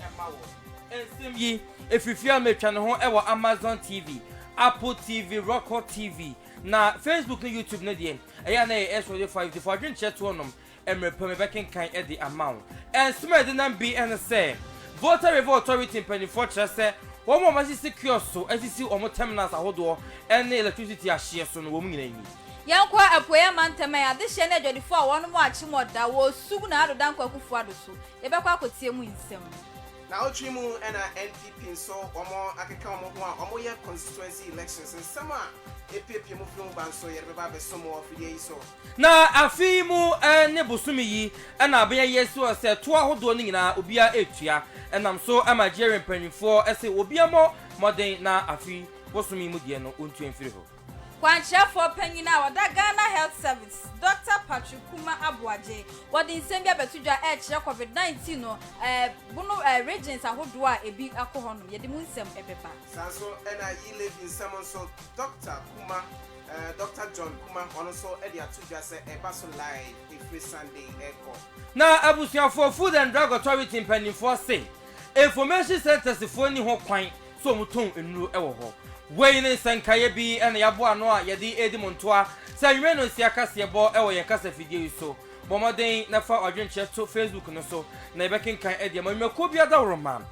Ɛma wo nsɛm yi ɛfiri fie a metwa ne ho wɔ Amazon TV, Apple TV, Roku TV, na Facebook ne YouTube no deɛ ɛyɛ a na yɛ SW five nti fa adwenkyerɛ toɔ nom mmerɛ pa mu yɛbɛkenkan de ama wo. Nsɛm a ɛdenam bi ne sɛ Volta River Authority mpanimfoɔ kyerɛ sɛ wɔn a wɔasisi kiosk so asisi wɔn terminals ahodoɔ ne electricity ahyeɛ so no wɔn nyinaa nni. Yɛnkɔ Apueɛ Amantam ɛ, adehyeɛ ne adwadifoɔ a wɔnom akyem ɔda wɔ Osu na Ado Dankwa Akufo-Addo so. Yɛbɛkɔ akɔtie mu nsɛm. Naawɔtwe mu na NPP nso wɔn akeka wɔn ho a wɔn yɛ constituency elections nsɛm a epiepie mu firi ho ba nso yɛde bɛba abɛso mo wɔ fidie yi so. Na afe yi mu ne bosome yi na abɛyɛ yɛ so sɛ toɔ ahodoɔ no nyinaa obiara retua ɛnam so ma Jerin mpaninfoɔ se obiara mmɔ mmɔden na afe bosome yi mu deɛ no wɔntua mfiri hɔ. Kwankyerɛfoɔ panyin a ɔda Ghana Health Service, Dɔkta Patrick Kumah Aboagye, wɔde nsɛm bi abɛto dwa ɛrekyerɛ Covid 19 no ɛbono regions ahodoɔ a ɛbi kɔ hɔ nom. Yɛde mu nsɛm bɛba. Saa nso na Yi Levy nsɛm nso Dɔkta Kumah, Dɔkta John Kumah, ɔno nso de ato dwa sɛ ɛba so live ɛfiri Sunday ɛrekɔ. Na abusuafoɔ Food and Drug Authority mpanimfoɔ se information centres foɔ nni ho kwan So wɔtɔn nnuro wɔ hɔ? Wei ne nsɛnkaeɛ bi na yɛaboa ano a yɛde redi mo ntoa sɛ anwummerɛ nnɔnsia kaseɛbɔ wɔ yɛn kasafidie yi so. Bɔ mmɔden na fa w'adwenkyerɛ to Facebook no so na yɛbɛkenkan de ama nnwumakuo bi adaworoma.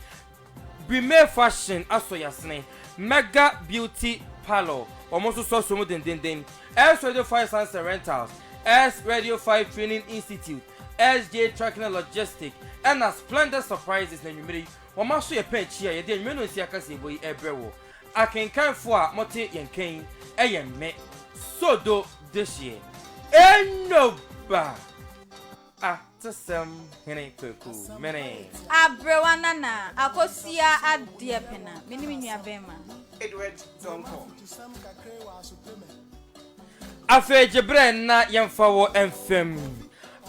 Brimey Fashion asɔ yɛn asene. Mega Beauty Parlour, wɔn nso so asɔ mu dendeenden. S Radio Fire Science and Rentals, S Radio Fire Training Institute, SJ Trucking and Logistics, ɛna Splendor Surprises na anwummerɛ yi Wɔma so yɛ pɛɛ kyia. Yɛde anwummerɛ nnɔnsia kaseɛbɔ yi rebrɛ wo akenkanfoɔ a mote yɛn nka yi, ɛyɛ me, Sodo dehyeɛ. Enoba! Atesɛm hene Kwaku Mene. Aberewa Nana Akosua Adeɛpena, me ne me nuabɛɛma. Edward Donkor. Afei gye berɛ na yɛmfa wo mfam.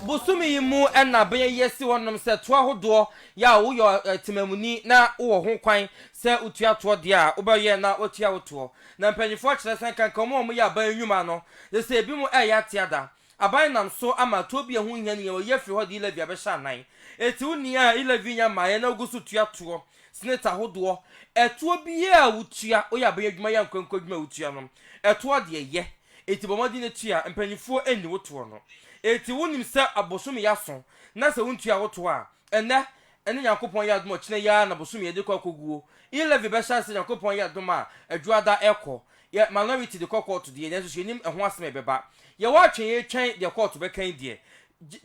Bosome yi mu na bɛyɛ yɛsi hɔnom sɛ toa hodoɔ Yɛ a woyɛ ɔtemamuni na wowɔ ho kwan sɛ wotua toɔ deɛ a, wobɛyɛ na wɔatua wo toɔ. Na mpanimfoɔ kyerɛ sɛ nkanka wɔn a wɔyɛ aban nnwuma no, gye sɛ ebinom reyɛ ate ada. Aban nam so ama toɔ bi a ɛho nhia no nyinaa wɔyi afiri hɔ de e-levy abɛhyɛ anan. Enti wo nni a e-levy nnya mmaeɛ na wogu so tua toɔ, senate ahodoɔ, ɛtoɔ biara a wotua, woyɛ aban adwuma yɛ ankorankoro adwuma a wotua no, ɛtoɔ deɛ yɛ. Enti bɔ mmɔden na tua mpanimfoɔ nni wo toɔ no. Enti wonim sɛ abosome yɛ aso, na sɛ wontua wo toɔ a, ɛnnɛ, ɛne Nyankopɔn yɛ adom a ɔkyena yi ara na bosome yɛ de kɔ akoguo. E-levy bɛhyɛ ase sɛ Nyankopɔn yɛ adom a Adwuada rekɔ. Yɛ minority de kɔ kɔɔto deɛ, nanso yɛnim ɛho asem a ɛbɛba. Yɛwɔ atwe yɛretwɛn deɛ kɔɔto bɛka yi deɛ.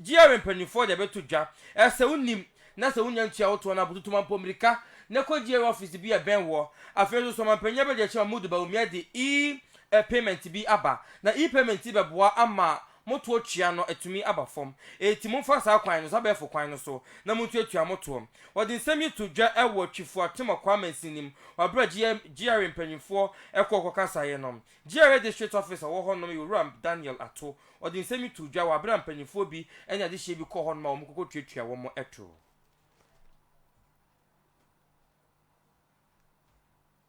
GRA mpanimfoɔ de abɛto dwa. Ɛsɛ wonim, na sɛ wonnya ntua wo toɔ no a, bututu ma mpɔ mirika, na kɔ GRA office bi a ɛbɛn woɔ. Afei nso, sɛ ɔmanpanyin abɛdi akyi ma Mudu Bawumia de E e-payment bi aba, na e-payment yi bɛboa ama mo toɔ tua no atumi aba fam. Enti momfa saa kwan no so, abɛɛfo kwan no so, na montuatua mo toɔ. Wɔde nsɛm yi too dwa wɔ Twifo Atemakwa amansin no mu wɔ bere a GRA GRA mpanyimfoɔ kɔɔ kɔkasaeɛ no. GRA District Office a ɔwɔ hɔnom yɛ Owura Daniel Ato. Ɔde nsɛm yi too dwa wɔ bere a mpanyimfoɔ bi ne adehyeɛ bi kɔɔ hɔnom a wɔkɔkɔtuatua wɔn toɔ.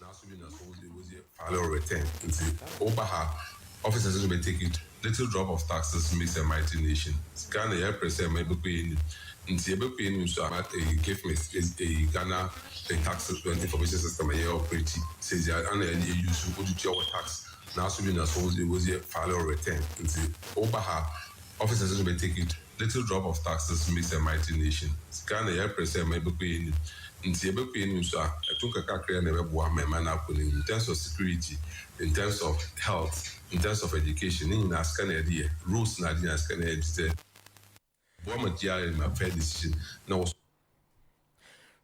Naaso bi na sɛ wo dze wodzi final return ntsi woba ha offices no bɛ take it little drop of taxes no means a mighty nation Ghana yɛreper sɛ ma ebɛkɔ enyim ntsi ebɛkɔ enyim so a eh give me eh Ghana eh tax information system a yɛ operate sɛdzi a ana yɛ yɛ use wode tua wo tax Naaso bi na sɛ wo dze wodzi final return ntsi woba ha offices no bɛ take it. Little drop of taxes makes a mighty nation, sika na yɛpere sɛ ɛma ɛbɛkɔ yɛn anim, nti yɛbɛkɔ yɛn anim nso a, ɛto nkakakraa na ɛbɛboa ama ɛman no akɔ n'anim, in terms of security, in terms of health, in terms of education, ne nyinaa sika na yɛde yɛ, rules na ade nyinaa sika na yɛde boa ma GRA ma fair decision na wɔ.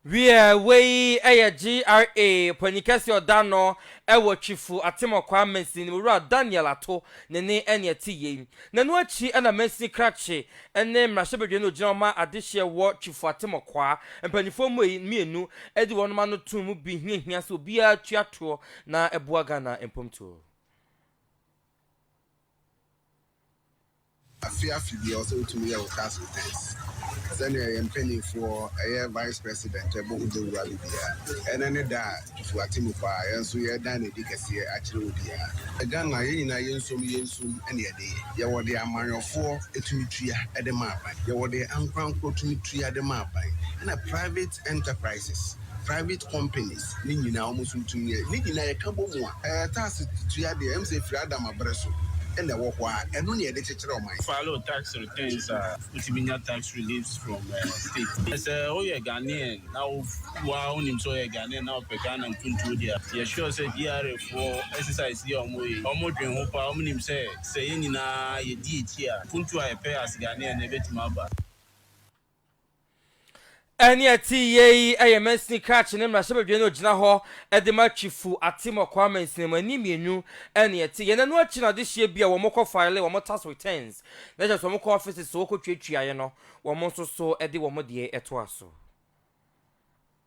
Wiɛ, wei yɛ GRA panyin kɛse ɔda no wɔ Twifu Atemɔkwa mansini no mu, Wura Daniel Ato ne ne ɛne ɛte yei. Nɛno akyi na mansini krakye ne mmarahyɛbadwani a ɔgyina hɔ ma adehyeɛ wɔ Twifu Atemɔkwa mpaninfoɔ mmienu de wɔnom ano too mu bi hiahia sɛ obiara tua toɔ na ɛboa Ghana mpomtuo. Afe afe biara ɔsɛ wotum yɛ wo tax returns sɛnea yɛn mpanyinfoɔ ɛyɛ vice president ɛbɔ ho dawura no biaa ɛnɛ ne da a tutu atemu paa yɛn nso yɛɛdan no adi kɛseɛ akyerɛ obiaa. Ghana yɛn nyinaa yɛnsom yɛnsom ɛne yɛde yɛ yɛwɔ deɛ amanyɔfoɔ tumi tua de ma aban yɛwɔ deɛ ankorankorɔ tumi tua de ma aban ɛna private enterprises. private companies ne nyinaa wɔn nso tumi yɛ. Ne nyinaa yɛ ka bɔ mu a, ɛɛ tax tua deɛ ɛm sɛ ɛfiri Adam abere so na ɛwɔ hɔ ara. Ɛno na yɛde kyekyere ɔman. File tax returns a, wotumi nya tax reliefs from state. Na sɛ woyɛ Ghanaian na wo wo ara wonim sɛ woyɛ Ghanaian na wopɛ Ghana mpuntuo deɛ a, yɛ sure sɛ GRA foɔ exercise yi a wɔn yɛ yi, wɔn dwen ho paa. Wɔn nim sɛ, sɛ yɛn nyinaa yɛdi akyi a, mpuntuo a yɛpɛ as Ghanaian no ɛbɛtumi aba. Ɛnne a ɛte yiye yi yɛ mansini krakye ne mmarahyɛbadwani na ogyina hɔ de ma Twifo Atemɔkɔ amansini mu. Ɛnne mmienu na ɛte yɛn. Ɛno akyi na adehyeɛ bi a wɔkɔ file wɔn tax returns, na kyerɛ sɛ wɔkɔ offices so kɔtuatuaeɛ no, wɔn nso so de wɔn deɛ toa so.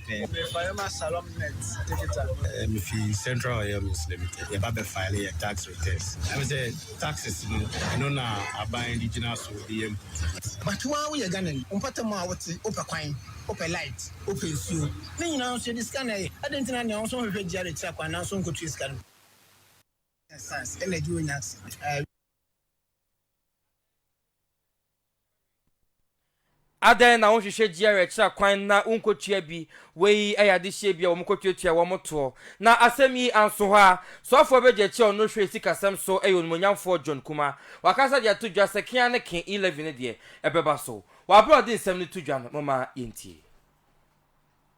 pɛn. Obebarima Salom Nett Dikita. Mifi Central Oil Mills Limited. Yɛba bɛfaele yɛn tax returns. Ɛne sɛ taxes no, ɛno na aban de gyina so de yɛ mputu. But wo ara woyɛ Ghanani, wo mpɔtam a wote, wopɛ kwan, wopɛ light, wopɛ nsuo. Ne nyinaa nso yɛde sika na ɛyɛ. Adɛn nti na nea ɔnso nhwehwɛ GRA tua kwan nanso ɔnkɔtua sika no bi? Science, energy wɔ nyansa. Adɛn na wonhwehwɛ GRA kyerɛ kwan na wonkotua bi? Wei yɛ adehyeɛ bi a wɔkɔtuatua wɔn toɔ. Na asɛm yi anso hɔ ara, soafoɔ bɛdi akyi a ɔno hwɛ sikasɛm so yɛ onimuonyamfoɔ John Kumah. Wakasa de ato dwa sɛ kea ne ke E-levy no deɛ, ɛbɛba so. W'abrɛ a ɔde nsɛm no to dwa no, momma yɛntie.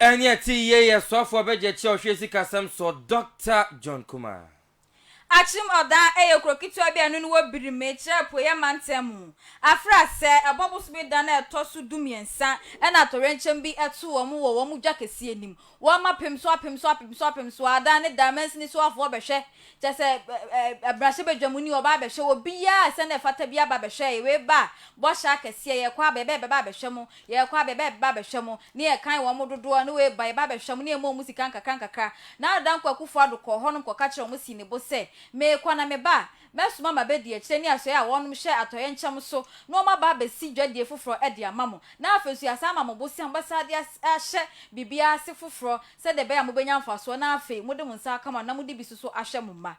Ɛnyɛ tee yie yɛ soafoɔ bɛgye kyɛ ɔhwɛ sikasɛm soɔ Doctor John Kumah. Akyem Odan yɛ kuro ketewa bi a ɛno ne wɔ Birim, ɛkyerɛ Apueeɛ mantam mu. Afra asɛ, ɛbɔ bosome da no a ɛtɔ so du mmiɛnsa na atɔyerɛnkyɛm bi to wɔn wɔ wɔn dwa kɛseɛ anim. Wɔma apem so apem so apem so apem so ara daa ne daa mansini soafoɔ bɛhwɛ Kyerɛ sɛ, ɛ-ɛ-ɛ mmarahyɛbadwa mu ni, wɔba abɛhwɛ wɔ biaa a sɛnea ɛfata biaa ba bɛhwɛ yɛ, wei ba a, bɔhyɛ akɛseɛ, yɛkɔ aba, yɛbɛ yɛbɛba abɛhwɛ mo, yɛkɔ aba, yɛbɛ yɛbɛba abɛhwɛ mo, ne yɛkan wɔn mo dodoɔ, ne wei ba, yɛba abɛhwɛ mo, ne yɛma wɔn mo sika nkakra nkakra. Na Dankwa Akufo Addo kɔɔ hɔnom kɔka kyerɛɛ wɔn sii ne bo sɛ, Meekɔ na meba a, mɛsoma m'abɛdi akyire ne asoɛeɛ a wɔnom hwɛ atɔeɛ nkyɛm so, na wɔn aba abɛsi dwadie foforɔ de ama mo, na afei nso yɛasan ama mo bosea a mobɛsan de as-ahyɛ biribiaa ase foforɔ, sɛdeɛ ɛbɛyɛ a mobɛnya mfasoɔ na afei mode mo nsa aka mo ano na mode bi nso so ahwɛ mo mma.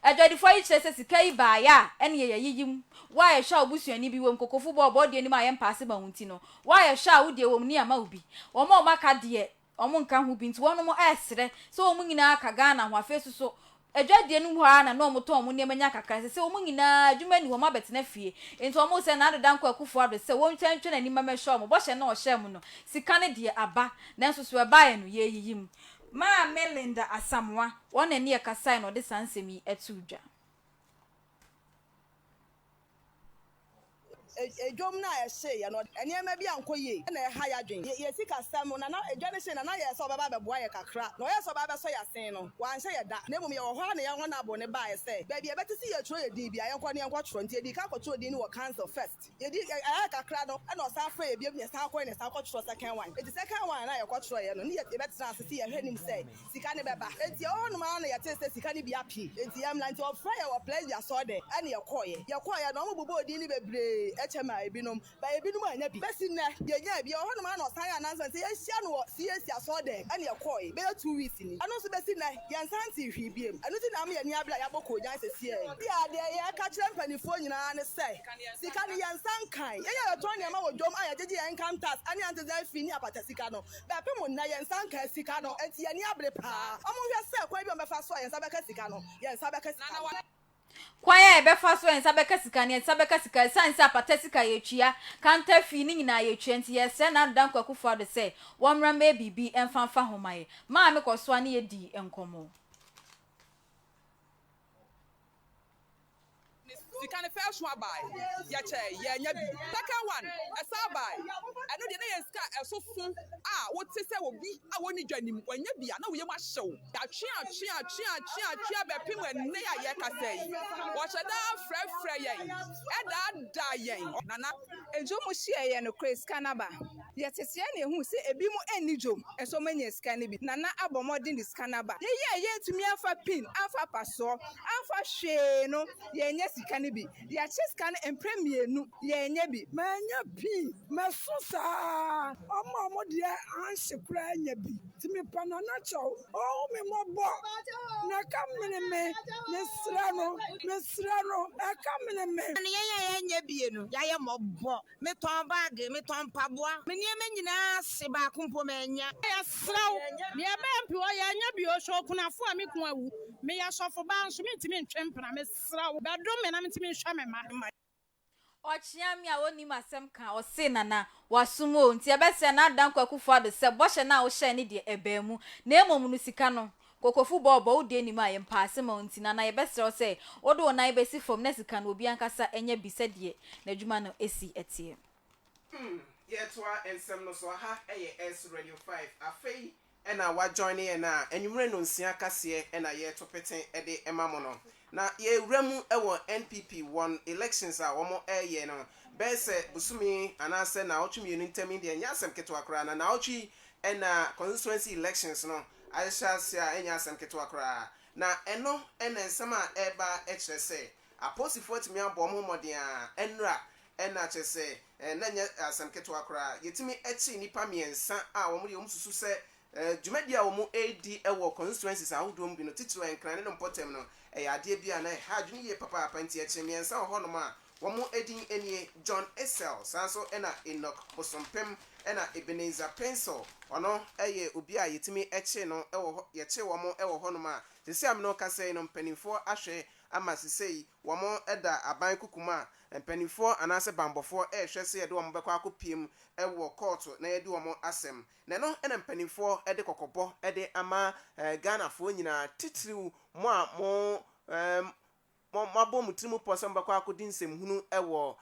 Adwadifoɔ yi kyerɛ sɛ sika yi baeɛ a ɛnneɛ yɛayiyi mu. Wo a yɛhwɛ a wo busuani bi wɔ mu, kokofo bɔ a ɔbɔ deɛ nni mu a yɛmpa ase ma wo nti no, wo a yɛhwɛ a wo deɛ wɔ mu ni a ma obi. Wɔn a wɔaka deɛ wɔnka ho bi nti wɔnom ɛresrɛ sɛ wɔn nyinaa ka Ghana ho afei nso so Adwadie no mu hɔ ara na na wɔtɔn wɔn nneɛma nya kakra. Sese wɔn nyinaa, adwuma nni hɔ, wɔabɛtena fie. Enti wɔresrɛ Nado Dankwa Akufo-Addo sɛ wɔntwa ntwa n'anim ma mɛhwɛ wɔn. Bɔhyɛ no a ɔhyɛɛ mo no, sika no deɛ, aba. Nanso so ɛbaeɛ no, yɛreyiyi mu. Maame Linda Asamoah, wɔn na ɛne yɛkasaeɛ na ɔde saa nsɛm yi too dwa. Dwom no a ɛhyeeɛ no, nneɛma bi ankɔ yie na ɛha yɛn adwene. Yɛn sikasɛm no, Nana, dwa no hyee, Nana yɛɛ sɛ ɔbɛba abɛboa yɛn kakra, na ɔyɛɛ sɛ ɔbɛba abɛsɔ yɛn asen no, wanhyɛ yɛn da, na mmom yɛwɔ hɔ ara na yɛn honourable no baeɛ sɛ baabi a ɛbɛte sɛ yɛtwerɛ yɛn din biara, yɛnkɔ na yɛnkɔtwerɛ. Nti yɛdii kan kɔtwerɛɛ din no wɔ council first. Yɛdi, ɛyɛɛ kakra no, ɛnna ɔsan frɛɛ yɛn bio, na yɛsan kɔeɛ na yɛsan kɔtwerɛɛ second one. Enti second one a yɛkɔtwerɛeɛ no, ne yɛbɛtenaa ase sɛ yɛhwɛ anim sɛ Sika no bɛba. Enti yɛwɔ hɔnom ara na yɛtee sɛ sika no bi ape. Enti yɛmmra. Enti wɔfrɛɛ yɛn wɔ Plessy asɔrdan ɛne yɛkɔeɛ. Yɛkɔeɛ no, wɔbobɔɔ edin no bebree kyɛ maa ebinom, but ebinom annya bi. Bɛsi nnɛ, yɛnyaa bi. Yɛwɔ hɔnom ara na wɔsan yɛɛ announcement sɛ yɛnhyia no wɔ CAC asɔrdan ɛne yɛkɔe bɛyɛ two weeks ni. Ɛno nso bɛsi nnɛ, yɛnsan ntee hwee biom. Ɛno nti na ama yɛn ani abere a yɛabɔ koogyan sesiɛ. Ebia deɛ yɛka kyerɛ mpanimfoɔ nyinaa ne sɛ, sika no yɛnsa nkae. Yɛn a yɛtɔn nneɛma wɔ dwom a yɛgyegye yɛn income tax ɛne anteseɛ fee ne apata sika no, Bɛpe mo nnɛ, yɛn nsa nkaa sika no, enti yɛn ani abere paa. Wɔnhwɛ sɛ kwan bi a wɔbɛfa so a yɛn nsa bɛka sika no, yɛn nsa bɛka sika no. Kwan a yɛbɛfa so a yɛn nsa bɛka sika no, yɛn nsa bɛka sika no. Esiane sɛ apata sika a yɛtua, kanta fee, no nyinaa yɛtua nti, yɛsrɛ Nana Danko Akufo-Addo sɛ wɔmmra mmɛyɛ biribi mfa mfa ho ma yɛn. Maame Kɔsoa ne yɛn dii nkɔmmɔ. Sika no first one bae, yɛkyɛe, yɛannya bi. Second one, ɛsan bae. Ɛno deɛ na ɛyɛ sika a ɛso fo a wote sɛ obi a ɔnni dwa nim. Wannya bi a, na wo yam ahye wo. Yɛatweatweatweatweatwea bɛpem ɛnnɛ a yɛrekasa yi. Wɔhyɛ da frɛfrɛ yɛn, daadaa yɛn. Nana. Enti wɔhyiaeɛ nokorɛ sika no aba. Yɛteteɛ na yɛhuu sɛ ebinom nni dwom, nso wɔanya sika no bi. Nana abɔ mmɔden de sika no aba. Yɛn a yɛantumi amfa pin amfa apasoɔ amfa hwee no, yɛanya sika no bi. Yɛakyɛ sika no mprɛ mmienu, yɛanya bi. Mannya pii. Masu saa ara. Wɔn a wɔn deɛ anhye koraa anya bi. Nti mepa Nana kyɛw, ɔnhu me mmɔbɔ, na ɛka mene me. Mesrɛ no. Mesrɛ no. Ɛka mene me. Yɛn a yɛanya bi no, yɛayɛ mmɔbɔ. Metɔn bag, metɔn mpaboa. Me nneɛma nyinaa se, baako mpo mannya. Yɛsrɛ wo, deɛ ɛbɛyɛ mpe hɔ, yɛanya bi o. Hwɛ okunafoɔ a, me kunu awu. Meyɛ sɔfobaa nso, mentumi ntwe mpena. Mesrɛ wo, bɛdom me na mentumi nhwɛ me mma. Ɔkyea me a ɔnnim asɛm ka, ɔse, Nana, wasom o, nti ɛbɛsɛ na adan Kwaku Foado sɛ bɔhyɛ no a wohyɛe no deɛ, ɛbaa mu. Na mmom no, sika no, Kokofu bɔɔ bɔ, wo deɛ nim a yɛmpaase ma wo nti na na yɛbɛsrɛ wo sɛ wode wo nan bɛsi fam na sika no obi ankasa nya bi sɛdeɛ n'adwuma no si teɛ. Hmm yɛretoa nsɛm no so aha yɛ S radio five afei na wa joine yɛn a anwumerɛ nonsia kaseɛ na yɛreto pete de ma mo no Na yɛwura mu wɔ NPP wɔn elections a wɔn ɛɛyɛ no bɛyɛ sɛ bosome anaa sɛ naawɔtwe mmienu ntam yi deɛ ɛnyɛ asɛm ketewa koraa na naawɔtwe yi na constituency elections no ahyɛ aseɛ a ɛnyɛ asɛm ketewa koraa na ɛno na nsɛm a ɛɛba ɛkyerɛ sɛ aposifoɔ atumi abɔ wɔn ho mmɔden a ɛnra na kyerɛ sɛ na ɛnyɛ asɛm ketewa koraa yɛtumi ɛkye nnipa mmiɛnsa a wɔn deɛ wɔn susu sɛ Dwumadi a wɔredi wɔ constituencies ahodoɔ mu bi no, titiriw Nkran ne no mpɔtam no, ɛyɛ adeɛ bi a na ɛha adwene yie papaapa. Nti ɛkyere mmiɛnsa wɔ hɔnom a wɔn din nie, John Essel, saa nso na Enoch Bosompem, ɛna Ebenezer Pencil, ɔno yɛ obi a yɛtumi kyere no wɔ hɔ, yɛkyere wɔn wɔ hɔnom a seesei a me ne wo kasa yi no mpanimfoɔ ahwɛ ama seesei wɔn da aban kuku mu a mpanimfoɔ anaasɛ bammɔfoɔ rehwɛ sɛ yɛde wɔn bɛkɔ akɔpiem wɔ kɔɔto na yɛadi wɔn asɛm. Na ɛno na mpaninfoɔ de kɔkɔbɔ de ama Ghanafoɔ nyinaa, titiriw mo a mo moabɔ mo tirim pɔ sɛ mobɛkɔ akɔdi nsɛmhunu wɔ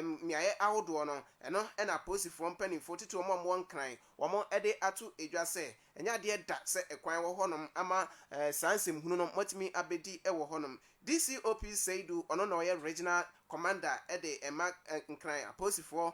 mmeaeɛ ahodoɔ no. Ɛno na apolisifoɔ mpaninfoɔ, titiriw wɔn a wɔwɔ Nkran, wɔde ato dwa sɛ ɛnyɛ adeɛ da sɛ kwan wɔ hɔnom ama saa nsɛmhunu no moatumi abɛdi wɔ hɔnom. DCOP Seidu, ɔno na ɔyɛ Regional Commander de ma Nkran apolisifoɔ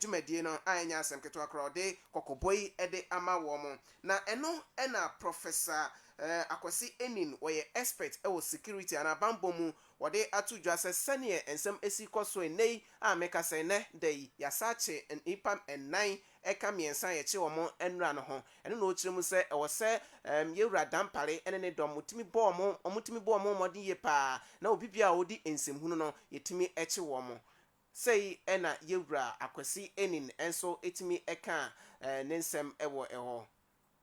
dwumadie no a ɛnyɛ asɛm ketewa koraa, ɔde kɔkɔbɔ yi de ama wɔn. Na ɛno na Professor Akwasi Enin, ɔyɛ expert wɔ security anaa bammɔ mu, ɔde ato dwa sɛ sɛdeɛ nsɛm si rekɔ so nnɛ yi a mekasa yi, nnɛ da yi, yɛasan akye nnipa nnan ɛka mmiɛnsa a yɛkyeree wɔn nnora no ho. Ɛno na ɔkyerɛ mu sɛ ɛwɔ sɛ yɛn Wura Dampare ne ne dɔm wɔtumi bɔ wɔn, wɔtumi bɔ wɔn mmɔden yie pa ara, na obi biara a ɔdi nsɛm hunu no, yɛtumi kye wɔn. Sei na yɛn Wura Akwasi Enin nso tumi kaa ne nsɛm wɔ hɔ.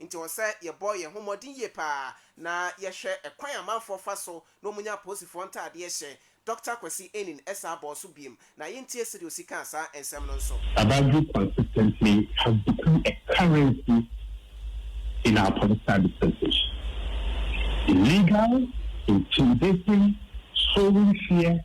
Enti ɛwɔ sɛ yɛbɔ yɛn ho mmɔden yie pa ara na yɛhwɛ kwan a amanfoɔ fa so na wɔnya apolisifoɔ ntaadeɛ hyɛ. Dɔkta Kwasi Aning san bɔɔ so bio, na yɛntie sɛdeɛ ɔsi kaa saa nsɛm no nso. Abajo consistently has become a currency in our political dispensation. Illegal, intimidating, sowing fear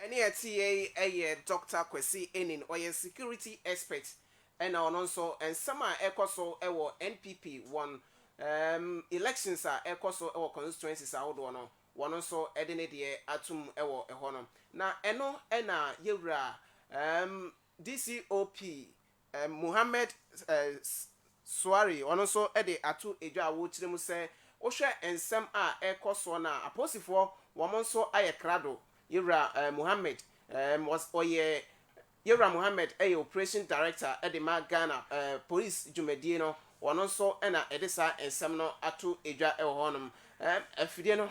Ɛne ɛte yɛ yi yɛ Dɔkta Kwasi Enin, ɔyɛ security expert ɛna ɔno nso nsɛm a ɛkɔ so wɔ NPP wɔn um elections a ɛkɔ so wɔ constituencies ahodoɔ no wɔn nso de ne deɛ atom wɔ ɛhɔ no na ɛno na yɛwura um DCOP Mohammed Suari ɔno nso de ato dwa a wɔrekyerɛ mu sɛ wohwɛ nsɛm a ɛrekɔ soɔ no a apolisifoɔ wɔn nso ayɛ krado Yewura Mohammed ɔyɛ Yewura Mohammed yɛ Operation Director de ma Ghana Polisi dwumadie no ɔno nso na ɛde saa nsɛm no ato dwa wɔ hɔ nom Afidie no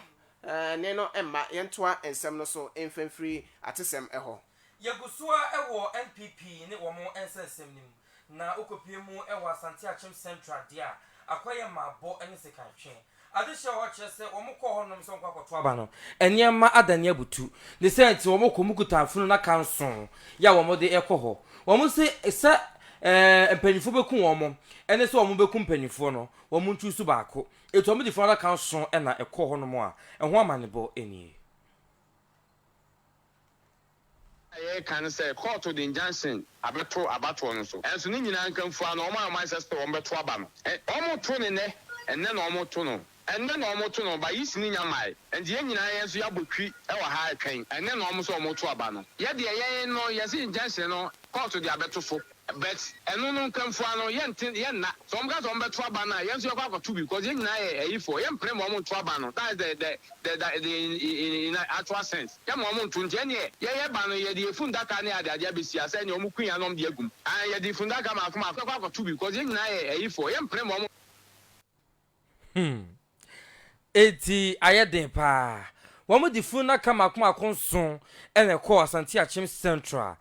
ne no mma yɛntoa nsɛm no so mfamfiri atesɛm hɔ. Yɛgu so ara wɔ NPP ne wɔn nsɛnsɛm no mu, na wokopue mu wɔ Asante Akyem Central deɛ a, akɔyɛ mmaabɔ ne sekanhwɛ. Adehye a wɔkyerɛ sɛ wɔkɔɔ hɔnom sɛ wɔkɔ akɔto aba no, nneɛma adane abutu. Ne saa nti, wɔkɔ mu kuta afunu na ka nson yɛ a wɔde rekɔ hɔ. Wɔse sɛ mpanimfoɔ bɛku wɔn ne sɛ wɔbɛku mpanimfoɔ no, wɔnchuusu baako. Enti wɔde funu adaka nson na ɛkɔɔ hɔnom a ɛho amanebɔ nie. a yɛreka ne sɛ kɔɔto de injunction abɛto abatoɔ no so, nanso ne nyinaa nkamfua no, wɔn a wɔayɛ saa sɛ wɔbɛto aba no, wɔreto no nnɛ, ɛnnɛ na wɔreto no, ɛnnɛ na wɔreto no, but Yeast no nnya mmaeɛ, enti yɛn nyinaa yɛn nso yɛabɔ twi wɔ ha retwɛn, ɛnnɛ na wɔn sɛ wɔreto aba no. Yɛn deɛ, yɛn no, yɛse injunction no kɔɔto de abɛto so. But ɛno no nkwamfua no yɛnte yɛnna sɛ wɔn ka sɛ wɔn bɛto aba no a yɛn nso yɛkɔ akɔto bi cause yɛn nyinaa yɛ ayifoɔ yɛmpene ma wɔn nto aba no that's the the the the the in in in actual sense yɛn ma wɔn nto nti ɛneɛ yɛyɛ ba no yɛde yɛ fundaka ne ade ade abɛsi ase ɛneɛ wɔn kui a na wɔn de agu mu and yɛde fundaka maako maako yɛkɔ akɔto bi cause yɛn nyinaa yɛ ayifoɔ yɛmpene ma wɔn Hmm. Enti ayɛ den paa. Wɔde funu nnaka mmaako mmaako nson na ɛkɔɔ Asante-Akyem Central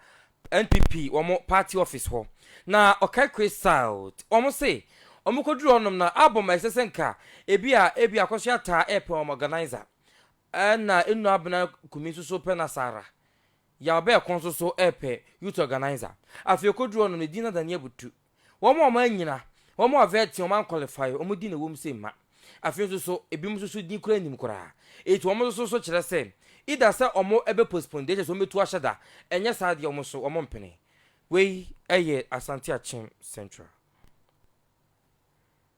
NPP wɔn party office hɔ, na Okaikwe South, wɔn se wɔkɔduruu hɔnom na album a ɛsɛ sɛ nka ebi a ebia akɔsoɛ ataa repɛ wɔn organiser, ɛna Enu Abena Kumi nso so pɛ no saa ara. Yaw Bɛɛko nso so repɛ youth organiser. Afei okɔduruu hɔnom no, edin no ada ne abutuw. Wɔn a wɔannyina, wɔn a wɔvɛtee, wɔn ankwalifai, wɔn din na ɛwom sɛ mma. Afei nso so, ebinom nso so din koraa nnim koraa. Enti wɔn nso so so kyerɛ sɛ either sɛ wɔbɛ postpone deɛ kyerɛ sɛ wɔbɛtu ahyɛ da, ɛnyɛ saa deɛ wɔn so wɔmpene. Wei yɛ Asante Akyem Central.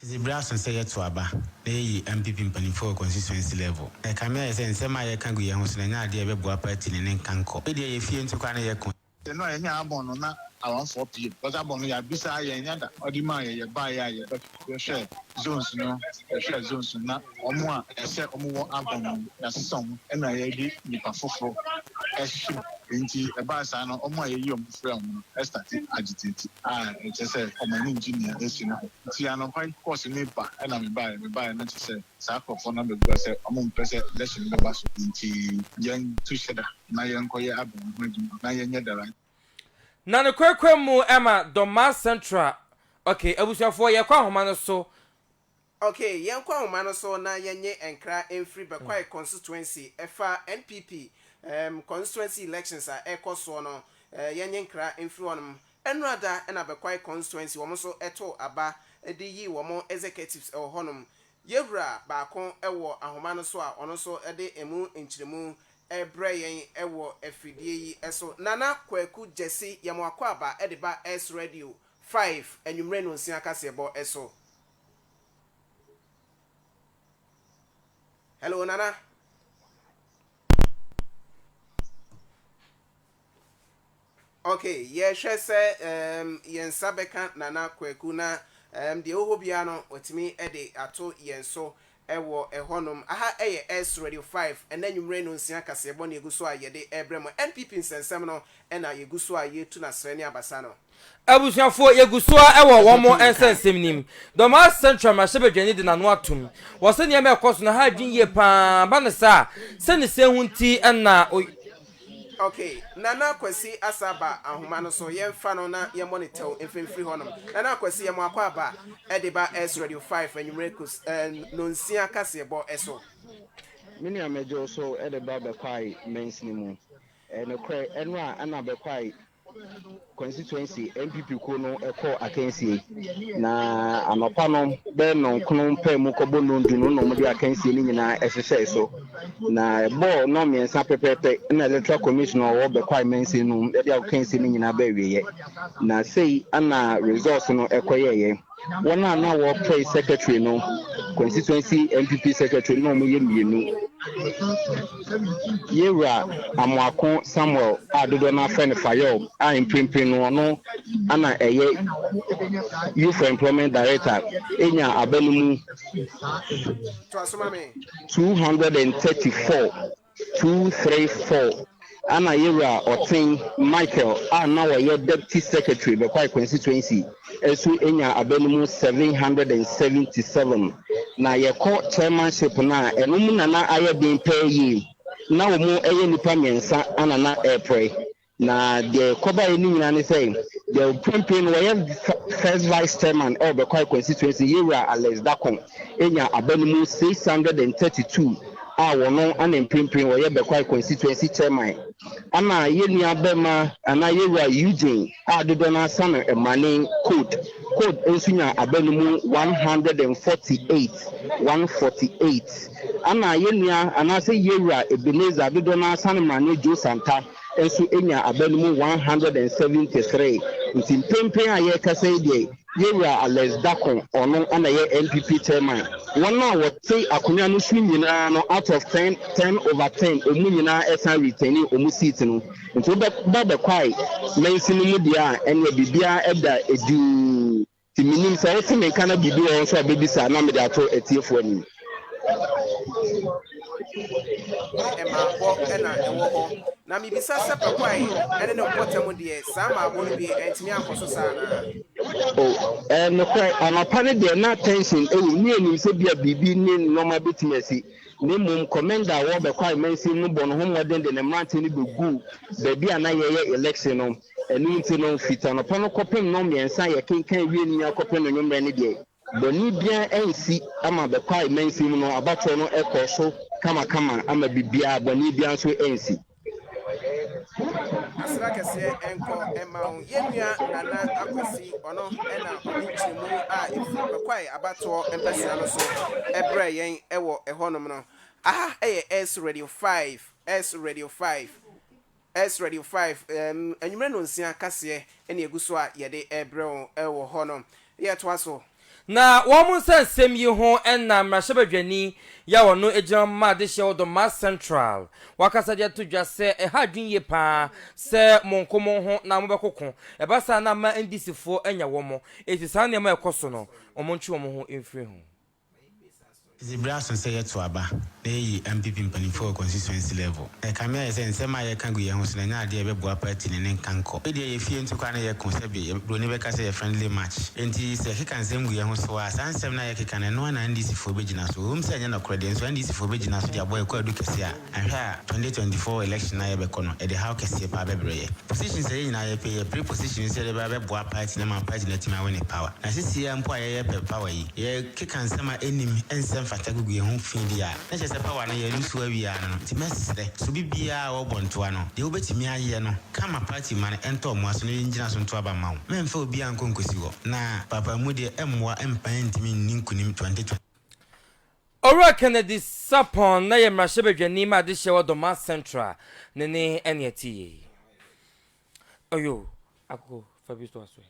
Edze ber aso sɛ yɛtow aba na yeyi NPP mpanyimfo wɔ constituency level. Ɛkã me ayɛ sɛ nsɛm a yɛkã gu hɛnho so na nnyɛ adze a yɛbɛboa party no ne nkankɔ. Bi deɛ yɛ fie nto koraa na yɛkõ. Hɛn a yɛnyaa abɔn no na awanfoɔ pii mu cos abɔn no yɛabisaa yɛn nnya da. Ɔde maa yɛ yɛbaeɛ a yɛbɛhwɛɛ zones no yɛhwɛɛ zones no na wɔn a ɛsɛ wɔn wɔ abɔn no yɛasesa wɔn na yɛde nnipa foforo ahyem. Nti ɛbaa saa no wɔn a yɛyi wɔn. frɛɛ wɔn no, Esther te agitated a ɛkyerɛ sɛ wɔn ani ngye nea asi no ho. Nti anɔpa yi kɔɔ so me ba ɛna me baeɛ, me baeɛ na kyerɛ sɛ saa nkorɔfoɔ no abɛbua sɛ wɔn mpɛ sɛ election no bɛba so nti yɛn to hyɛ da na yɛn kɔ yɛ aban ho adwuma na yɛn nyɛ dada. Na no korakora mu ɛma Dormaa Central okay abusuafoɔ yɛkɔ ahoma no so Ok, yɛnkɔ ahoma no so na yɛnye nkra mfiri Bɛkwae Constituency, ɛfa NPP um constituency elections a ɛrekɔ soɔ no, eh, yɛnye nkra mfiri hɔnom. Ɛnora da na Bɛkwae Constituency wɔn nso too aba de yii wɔn executives wɔ hɔnom. Yɛwura baako wɔ ahoma no so a ɔno nso de ɛmu nkyerɛmu rebrɛ yɛn wɔ afidie yi so. Nana Kwaku Gyasi yɛ mo akwaaba de ba Ace Radio 5 anwummere nnonsia kaseɛbɔ so. Hello, Nana. Okay, yɛhwɛ sɛ um, yɛn nsa bɛka Nana Kwaku na um, deɛ ɔwɔ hɔ biara no watumi de ato yɛn so Wɔ hɔnom, aha yɛ Ess Radio 5, ɛnnɛ anwumerɛ nnɔnsia kaseɛbɔ na yɛgu so a yɛde rebrɛ mo. NPP nsɛnsɛm no na yɛgu so a yɛretu no asrɛ ne abasa no. Abusuafoɔ, yɛgu so ara wɔ wɔn mo nsɛnsɛm nim. Dɔmaa Central mmarahyɛbadwani de n'ano atom. Ɔse nneɛma a ɛkɔ so no ha adwene yie pa ara, ba no saa a, sɛnea sɛn ho nti na ɔy. Ok Nana Kwasi asa aba ahoma no so yɛnfa no na yɛmmɔ no tɛw mfa mfiri hɔnom. Nana Kwasi yɛ moakɔ aba de ba S Radio 5 anwumerɛ kus nonsia kaseɛbɔ so. Me nua mɛgye wo so de ba Bɛkwae Mansini mu. Ɛyɛ nokorɛ ɛno a ɛna Bɛkwae constituency NPP kuo no kɔɔ akansie na anɔpa no bɛyɛ nnɔnkono mpaa mu kɔbɔ nnondu no na wɔde akansie no nyinaa ɛhyehyɛe so na ɛbɔɔ nnɔn mmiɛnsa pɛpɛɛpɛ na electoral commission a ɔwɔ bɛkwae mansin no mu de akansie no nyinaa bɛawieɛ na sei ana results no ɛkɔyɛeɛ. wɔn a na wɔpɛe secretary no, constituency NPP secretary no na wɔyɛ mmienu. Yɛwura Amoako Samuel a dodoɔ no afrɛ no Fayom a mprempren no ɔno na ɛyɛ Youth for Employment Director nya aba no mu two hundred and thirty four. Two, three, four, Ana Yewura Ɔtsen Michael a na ɔyɛ Deputy Secretary Bekwai Constituency so enya aba no mu seven hundred and seventy seven. Na yɛkɔ Chairmanship no a, ɛno mu na na ayɛ den paa yie. Na wɔyɛ nnipa mmiɛnsa na na ɛreprae. Na deɛ ɛkɔbaeɛ no nyinaa ne sɛ, deɛ mprempren no ɔyɛ First Vice Chairman wɔ Bɛkwai Constituency, Yewura Alex Darkon anya aba no mu six hundred and thirty two a ɔno na mprempren ɔyɛ Bɛkwai Constituency Chairman. Ɛna yɛn nua barima anaa Yewura Eugene a dodoɔ no ara sa no Mmane Code Code nso nya aba no mu one hundred and forty eight, one forty eight. Ɛna yɛn nua anaasɛ Yewura Ebenezer a dodoɔ no ara sa no Mmane Joe Santah. nso nyaa aba no mu one hundred and seventy three nti mprempren a yɛrekasa yi deɛ Yɛwura Alex Darko ɔno na ɛyɛ NPP Chairman. Wɔn a wɔte akonwa no so nyinaa no out of ten, ten over ten, wɔn nyinaa ɛsan retaini wɔn seat no. Nti wobɛba bɛkwae mansini mu deɛ a ɛneɛ biribiara ɛda edinn. Nti menim sɛ wote me nka na biribi wɔ hɔ nso a wobɛbisa na mede ato atiefoɔ anim. Ho mmaabɔ na ɛwɔ hɔ. Na mebisa sɛ Pakuae ne ne mpɔtam deɛ, saa mmaabɔ no deɛ antumi ankɔ so saa anaa? O, ɛɛ nokorɛ, anɔpa no deɛ na tension wɔ mu, ne yɛnim sɛ bia biribi ne nnoɔma bɛtumi asi, na mmom Commenda a wɔrebɛkɔ amansin no bɔ ne ho mmɔden de ne mmeranteɛ no bɛguu baabi a na yɛreyɛ election no. Ɛno nti no, firi anɔpa no kɔpem nnɔnmiɛnsa a yɛkenkan wie no nyinaa kɔpem anwummerɛ no deɛ, bɔne biara ansi ama bɛkwae mansin mu no abatoɔ no kɔɔ so kamakama ama biribiara, bɔne biara nso ansi. Asera kɛseɛ nkɔ mma wo, yɛn nua Nana Akwasi, ɔno na ɔde nkyerɛmu a ɛfiri bɛkwae abatoɔ mpɛsea no so brɛɛ yɛn wɔ ɛhɔnom no. Aha yɛ S Radio 5, S Radio 5. Ɛrs Radio 5, Anwumerɛ nnɔnsia kaseɛ na ɛgu so a yɛde rebrɛ wo wɔ hɔ no. Yɛtoa so. Na wɔn nsa nsɛm yi ho na mmarahyɛbadwani yi a ɔno gyina ma adehyeɛ wɔ Dormaa Central wakasa de ato dwa sɛ ɛha adwene yie pa ara sɛ monko mo ho na mobɛkoko, ɛba saa na ama NDC foɔ anya wɔn, enti saa nneɛma a ɛkɔ so no wɔntwe wɔn ho mfiri ho. Dze ber aso sɛ yɛtow aba na yeyi MPP mpanyimfo wɔ constituency level. Na ɛkame ayɛ sɛ nsɛm a yɛka gu yɛnho so no nnyɛ ade a ɛbɛboa party no ne nkankɔ. Ebia yɛ fie nto koraa na yɛko, sɛbe yɛ broni bɛka sɛ yɛ friendly match. Enti sɛ yɛkeka nsɛm gu yɛnho so a, saa nsɛm no a yɛkeka no, ɛno ara na NDC foɔ bɛgyina so. Ɛwom sɛ ɛnyɛ nɔkorɛ deɛ, nso NDC foɔ bɛgyina so de abɔ yɛ kwaadu kɛse a. Anhwɛ a, twenty twenty four election a yɛbɛkɔ no, ɛde haw kɛseɛ paa bɛbrɛ yɛ. Positions a yɛ nyinaa yɛpɛ, yɛ pre positions sɛ yɛde bɛba bɛboa party no ama party no atumi a wine power. Na sisi yi ara mpo a yɛyɛ pɛ power yi, yɛ keka nsɛm a ɛnnim, ɛnsɛ mfata gugu yɛn ho fii di a, na kyerɛ sɛ power no yɛ lose awie ara no no. Nti mɛsrɛ, sɛ obi biara a ɔrebɔ ntoa no, deɛ wobɛtumi ayɛ no, ka ma party mma no ɛntɔ mmoa so na yɛ ngyina so nto aba mma wo. Mɛmfa obiara nkɔ nkosi hɔ. Na paapaemu deɛ ɛmmoa mma yɛntumi nni nkunim twenty twenty. Owura Kennedy Sarpong na yɛ mmarahyɛbadwani ma adehyeɛ wɔ Dormaa Central, ne ne ɛne ɛte yie. Oyo, Akoko fa bi toa so yi.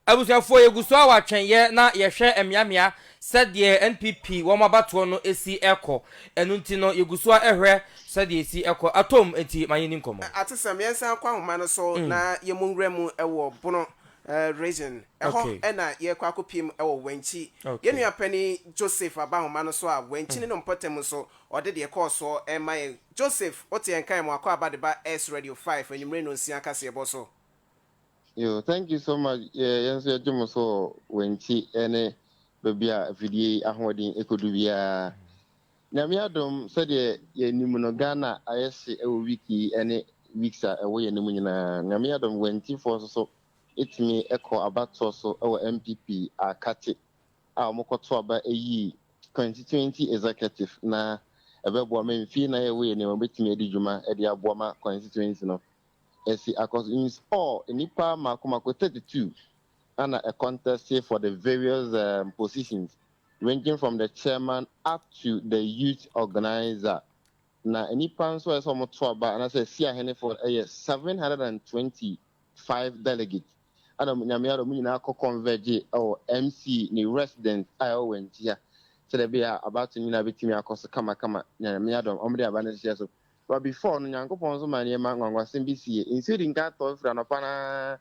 Abusuafoɔ yɛgu so ara wɔ atwɛnyɛ na yɛhwɛ mmeammea sɛdeɛ NPP wɔn abatoɔ no si rekɔ, ɛno nti no yɛgu so ara rehwɛ sɛdeɛ ɛsi rekɔ, atɔ mu nti ma yɛnni nkɔmmɔ. Atesɛm, Yɛnsan nkɔ ahoma no so na yɛmmɔ nwura mu wɔ Bono Eh, Reason. Ɛhɔ Okay. na yɛrekɔ akɔpiem wɔ Wankyi. Yɛn Okay. nua panin Joseph Abahoma no nso a Wankyi ne no mpɔtam nso, ɔde deɛ ɛkɔɔ soɔ rema yɛn. Joseph, wote yɛn nka yɛn Mmoakɔ Aba de ba Ess Radio 5 anwummere nnɔnsia kaseɛbɔ so. Yo, thank you so much. Yɛ, yɛn nso yɛgye mo so wɔ Wankyi ne baabi a afidie yi ahoɔden kɔdu biara. Nyame adom sɛdeɛ yɛnim no Ghana ayɛ hye wɔ week yi ne weeks a ɛwɔ yɛn anim nyinaa. Nyame adom Wantifoɔ nso so tumi kɔɔ abatoɔ so wɔ NPP Aakate a wɔkɔto aba yii 2020 Executive na ɛbɛboa ma mfie nan a ɛwɔ yɛn anim wɔbɛtumi adi dwuma de aboa ma constituency no asi akɔso. In all nnipa mako mako 32 na ɛ contest for the various positions ranging from the chairman up to the youth organiser, na nnipa nso a ɛsɛ sɛ wɔto aba anaasɛ asi ahenefoɔ yɛ seven hundred and twenty five delegates. Ɛna nyame ara wɔn nyinaa kɔ converge wɔ MC ne resident a ɛwɔ Wantia sɛdeɛ ɛbɛyɛ a abato nyinaa bɛtumi akɔ so kamakama nyame adɔm wɔn de aba no hyehyɛ so. But before no Nyankopɔn nso ma nneɛma nwanwasɛm bi sie. Nsuo di nka tɔ firi anɔpa no ara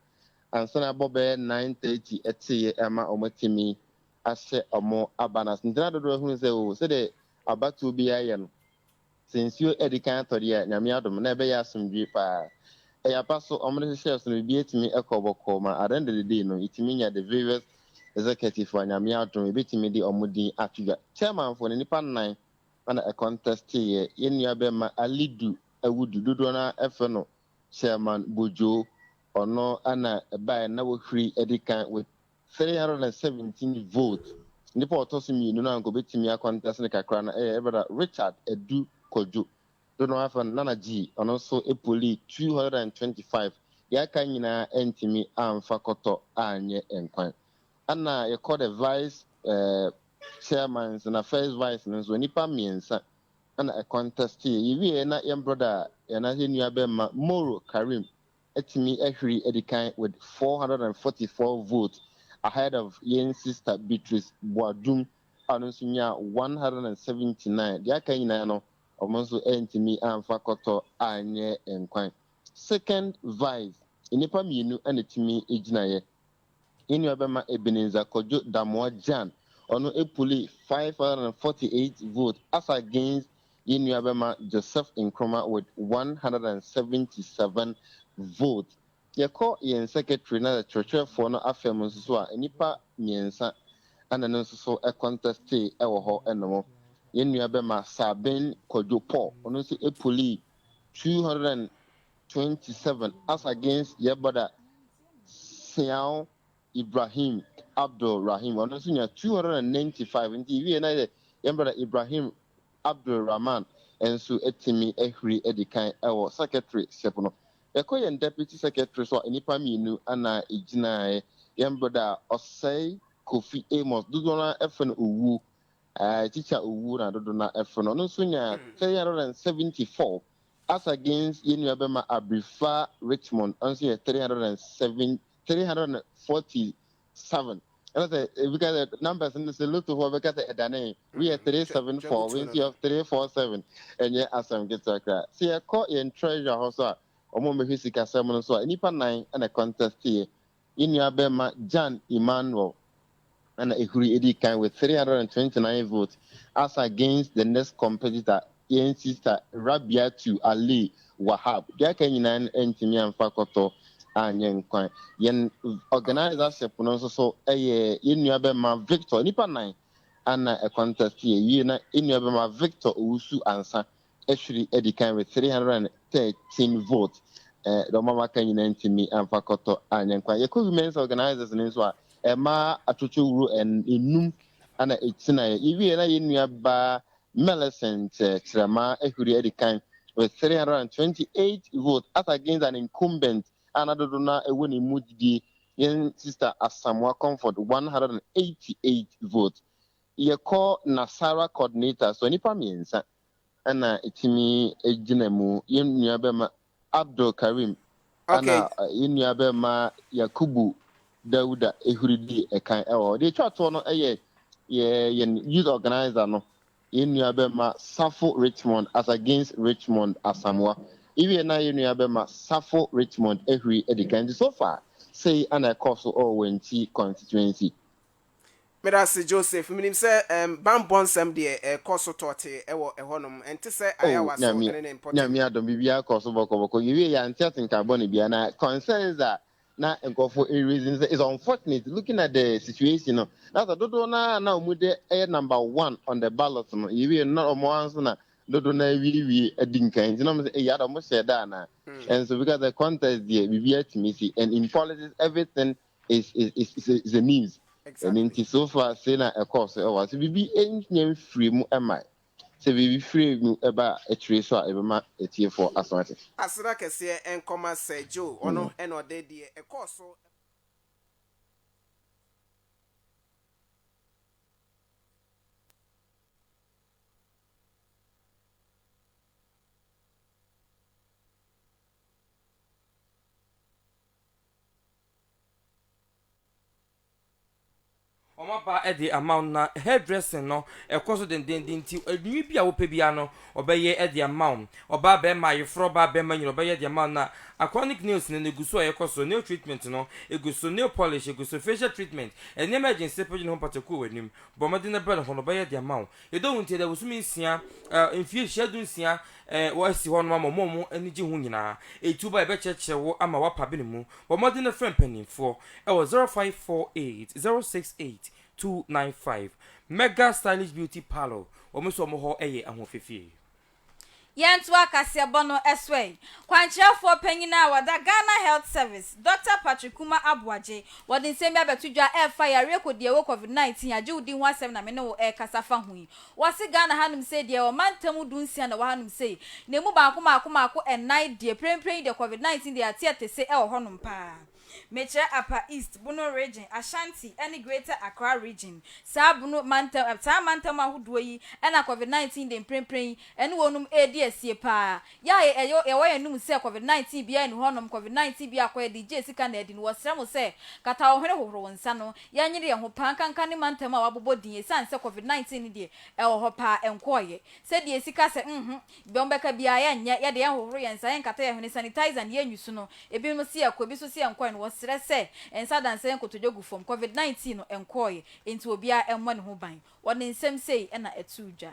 ansa na ɛbɔ bɛyɛ nine thirty ɛteeɛ ɛma wɔatumi ahyɛ ɔmo aba no ase. Ntsi na dodow hun sɛ o, sɛdeɛ abatow biara yɛ no, sɛ nsuo adi kan atɔ deɛ a, Nyame adom, na ɛbɛyɛ asomdwie paa. Ɛyɛ apa so, ɔmo de hyehyɛɛ so no, biribiara tumi kɔ bɔkɔɔ, ma at the end of the day no, yɛtumi nya the various executives a Nyame adom, yɛbɛtumi de ɔmo din ato dwa. Chairman foɔ no, nnipa nnan na ɛ contesteeɛ, yɛn nua bɛma Alidu Awudu, dodoɔ no ara frɛ no Chairman Bojoo, ɔno na ɛbaeɛ no, na wahuri adi kan with three hundred and seventeen vote nipa a ɔtɔ so mmienu no a nka obetumi akɔntɛs no kakra no yɛ yɛ brada Richard Adu Kwadwo do na wɔafrɛ no Nana G ɔno nso polii two hundred and twenty five deɛ aka nyinaa antumi amfa kɔtɔ anyɛ nkwan ɛna yɛkɔ the vice eh, chairmans na first vice no nso nnipa mmiɛnsa ɛna ɛkɔntɛsteɛ yɛwieɛ na yɛn brada yɛn yɛn nua bɛmma Moro Karim atumi ahwiri adi kan with four hundred and forty four votes ahead of yɛn sister Beatrice Boadum a ɔno nso nyaa one hundred and seventy nine. Deɛ aka nyinaa no wɔn nso antumi amfa kɔtɔ anyɛ nkwan. Second vice nnipa mmienu na ɛtumi gyinaeɛ Yɛn nuabɛma Ebenezer Kojo Damoah Gyan, ɔno puli five hundred and forty eight vote as against yɛn nuabɛma Joseph Nkrumah with one hundred and seventy seven vote. Yɛkɔ yɛn secretary na kyerɛkyerɛfoɔ no afa mu nso so a, nnipa mmiɛnsa na ɛno nso so contestee wɔ hɔ nom. Yɛn nuabɛma Sabin Kojo Paul, ɔno nso puli two hundred and twenty seven as against yɛ brɔda Seau Ibrahim Abdul Rahim ɔno nso nya two hundred and ninety five nti ewie na yɛ yɛn brɔda Ibrahim Abdul Rahman nso atumi ahuri adi kan wɔ secretary ship no. Yɛkɔ yɛn deputy secretary so a nnipa mmienu na egyinaeɛ yɛn brɔda Ɔsɛe Kofi Amos dodoɔ no ara frɛ no Owuo ɛɛ Teacher Owuo na dodoɔ no ara frɛ no ɔno nso nya three hundred and seventy four Asa Gaines yɛ nua bɛma Abrifa Richmond nso yɛ three hundred and seven three hundred and forty seven ɛna sɛ ebi ka sɛ numbers no sɛ lotofoɔ bɛka sɛ ɛdane woyɛ three seven four wei nso yɛ three four seven ɛnyɛ asɛm ketewa koraa sɛ yɛkɔ yɛn treasure hɔ so a wɔn a wɔhwɛ sikasɛm no so a nnipa nan ɛna contest yɛ Yɛn nuabarima Jan Emanuel na na ehuri edi kan with three hundred and twenty nine votes as against the next competitor, yɛn sista Rabiatu Ali Wahab. Deɛ aka nyinaa no antumi amfa kɔtɔ anyɛ nkwan. Yɛn organisership no nso so yɛ yɛn nuabarima Victor, nnipa nnan na ɛcontestiɛ. Ɛwiei na yɛn nuabarima Victor Owusu Ansah ahwiri adi kan with three hundred and thirteen votes eh, dɔm a wɔaka nyinaa ntumi amfa kɔtɔ anyɛ nkwa yɛkɔ women's organizers no nso a ɛmaa eh, atwotwo wuro enum ana ɛtinaeɛ yɛwie na yɛn nua baa Millicent eh, Kyerɛma ahwiri adi kan with three hundred and twenty eight votes as against an incumbent a na dodo no a ɛwɔ ne mu didie yɛn sister Asamoah Comfort one hundred and eighty eight votes yɛkɔ Nasara coordinator so nnipa mmiɛnsa na etumi gyina mu. Yɛn nuabɛma Abdul Karim na yɛn nuabɛma Yakubu Dauda Ehuri di ɛkan wɔ hɔ. Deɛ etwa toɔ no yɛ yɛn youth organizer no, yɛn nuabɛma Safo Richmond as against Richmond Asamoah. Ewie na yɛn nuabɛma Safo Richmond Ehuri di kan. Nti so far, sei na ɛkɔɔ so wɔ Wanti constituency. Meda ase Joseph. Menim sɛ ɛɛm banbɔ nsɛm deɛ ɛrekɔ so tɔɔtee wɔ ɛhɔ nom. Ɛnte sɛ Oh Ayawa so Nyame, ne ne mpɔtam. Nyame adom biribiara kɔɔ so bɔkɔ bɔkɔ. Yɛwie yɛ a yɛnte atenka bɔne biara na concerns a na nkurɔfoɔ raise no sɛ it's unfortunate looking at the situation no na sɛ dodoɔ no ara a na wɔn de yɛ number one on the ballot no yɛwie no na wɔn ara nso na dodoɔ no ara awiewie adi nkan nti na wɔn sɛ eyi ada wɔn hyɛɛ da anaa? And so because the contest deɛ biribiara tumi si and in politics everything is is is is a, is a means ɛno nti so far sei na ɛkɔɔ so ɛwɔ so biribi ɛnyɛ mfiri mu ɛma sɛ biribi firi mu ɛba akyire so a ɛbɛma atiefoɔ aso ate Aseda kɛseɛ nkɔma Sir Joe, ɔno mm. ɛna ɔde deɛ ɛkɔɔ so. wɔaba de ama wo no, na hair dressing no ɛkɔ so dendeenden nti adwinwi bi a wopɛ biara no ɔbɛyɛ de ama wo. Ɔbaa barima, ayeforɔ ɔbaa barima nyina ɔbɛyɛ de ama wo na achronic nails no egu so a ɛkɔ so, nail treatment no egu so, nail polish egu so, facial treatment, nneɛma a ɛgye nsepɔ gye ne ho mpataku wɔ w'anim, bɔ mmɔden na bra na hɔ no ɔbɛyɛ de ama wo. Yɛdɔ wo nti yɛde abosome nsia, mfie nhyia dunsia, a wɔasi hɔ no ama wɔn a wɔn ani gye ho nyinaa. Etuo ba a yɛbɛkyerɛkyerɛ wo ama woapa bene mu. Bɔ mmɔden na frɛ mpanimfoɔ wɔ 0548 068 295. Mega Stylish Beauty Parlour, wɔn nso wɔn hɔ yɛ ahoɔfefie. Yɛntoa kaseɛbɔ no so ɛ. Kwankyerɛfoɔ panyin a wɔda Ghana Health Service, Dɔkta Patrick Kuma Aboagye, wɔde nsɛm bi abɛto dwa a ɛfa yareɛ kɔdiawuo Covid-19 agyewdi ho asɛm na me ne wo rekasa fa ho yi. Wɔse Ghana hanom sei deɛ yɛwɔ mantamu du nsia na ɛwɔ hanom sei, na ɛmu baako maako maako ɛnan deɛ prempren yi deɛ covid 19 deɛ yɛate ɛte se ɛwɔ hɔnom paa. Mekyerɛ Upper East, Bono Region, Ashanti ne Greater Accra Region, saa Bono mantam, saa mantamu ahodoɔ yi na covid 19 deɛ mprempren yi ɛne wɔnom ɛredi asie paa, Yɛ a yɛ yɛ wɔ yɛ no mu sɛ covid 19 biaa nni hɔ nom covid 19 biaa kɔ yɛ de gyee sika na adi no wɔ srɛ mo sɛ kata wo hwene hohoro wo nsa no yɛ nyere yɛ ho paa nka nka ne mantam a wabobɔ din ɛsiane sɛ covid 19 no deɛ ɛwɔ hɔ paa ɛnkɔɔ yɛ sɛ deɛ sika sɛ mho bɛm bɛka biaa yɛ nyɛ yɛ de yɛ hohoro yɛ nsa yɛ nkata yɛ hwene sanitizer no yɛ nyi so no ebi nom se yɛ kɔ ebi nso se yɛ nkɔɛ no wɔ srɛ sɛ nsa da nsa yɛ nkotodwe gu fam covid 19 no ɛnkɔɔ yɛ enti obiaa mmɔ ne ho ban wɔ ne nsam sei na ɛtoo dwa.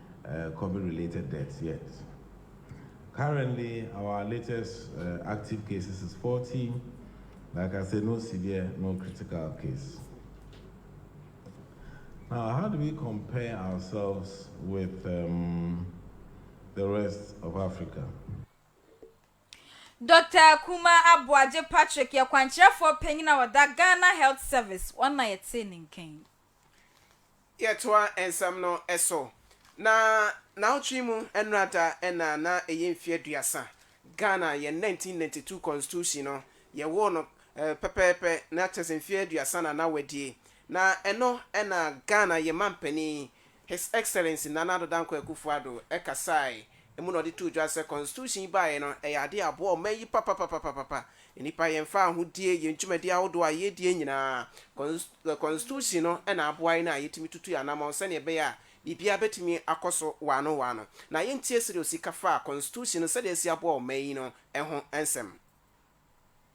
uh, Covid related deaths yet. Currently, our latest uh, active cases is 40. Like I said, no severe, no critical case. Now, how do we compare ourselves with um, the rest of Africa? Dr. Kuma Aboagye Patrick yɛ kwankyerɛfoɔ panyin a ɔda Ghana Health Service wɔn na yɛtee ne nkan. Yɛtoa nsɛm no so. Na naawɔtwe mu nnora da na na ɛyɛ mfeɛ aduasa. Ghana yɛn 1992 constitution no yɛwoo no pɛpɛɛpɛ na kyerɛ sɛ mfeɛ aduasa na na wadie. Na ɛno na Ghana yɛn mampanin His Excellency Nana Addo Dankwa Akufo-Addo kasae, emu na ɔde too dwa sɛ Constitution yi baeɛ no, ɛyɛ adeɛ a aboa ɔman yi papapapapapa. Nnipa yɛmfa ahodie, yɛn dwumadie ahodoɔ a yɛredie nyinaa, Cons, Constitution no na aboa yɛn a yɛtumi tutu yɛn anamɔn sɛdeɛ ɛbɛyɛ a biribiara bɛtumi akɔ so waano waano. Na yɛntie sɛdeɛ ɔsi ka faa Constitution no sɛdeɛ asi aboa ɔman yi no ho nsɛm.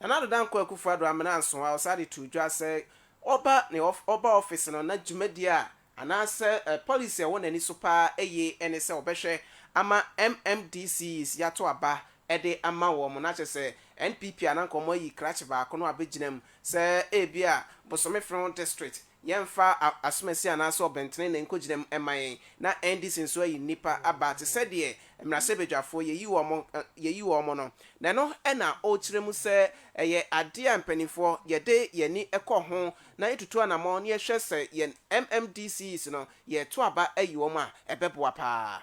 Nana Addo Dankwa Akufo-Addo Amena Anson a ɔsan de too dwa sɛ ɔba ne ɔba ɔfese no na dwumadie a anaasɛ policy a ɛwɔ n'ani so paa yie ne sɛ ɔbɛhwɛ ama MMDCs yato aba de ama wɔn na kyerɛ sɛ NPP a na nka wɔayi krakye baako no abɛgyina mu sɛ ebia Bosome Frɔn District Yɛmfa asomasi anaasɛ ɔbɛntrenee nkogyina mu mma yɛn, na NDC nso ayi nnipa aba te sɛ deɛ mmarahyɛbadwafoɔ yɛyi wɔn yɛyi wɔn no, na ɛno na ɔrekyerɛ mu sɛ ɛyɛ adeɛ a mpanimfoɔ yɛde yɛn ani kɔ ho na yɛtutu anammɔn na yɛhwɛ sɛ yɛn MMDCs no yɛreto aba ayi wɔn a ɛbɛboa pa ara.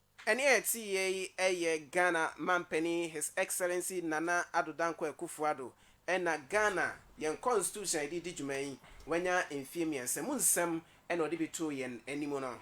Ɛnne a ɛteeɛ yi yɛ Ghana Manpanin His Excellency Nana Addo Dankwa Akufo Addo ɛna Ghana yɛn Constitution a yɛde redi dwuma yi wanya mfeɛ mmiɛnsa mu nsɛm ɛna ɔde bi too yɛn anim no.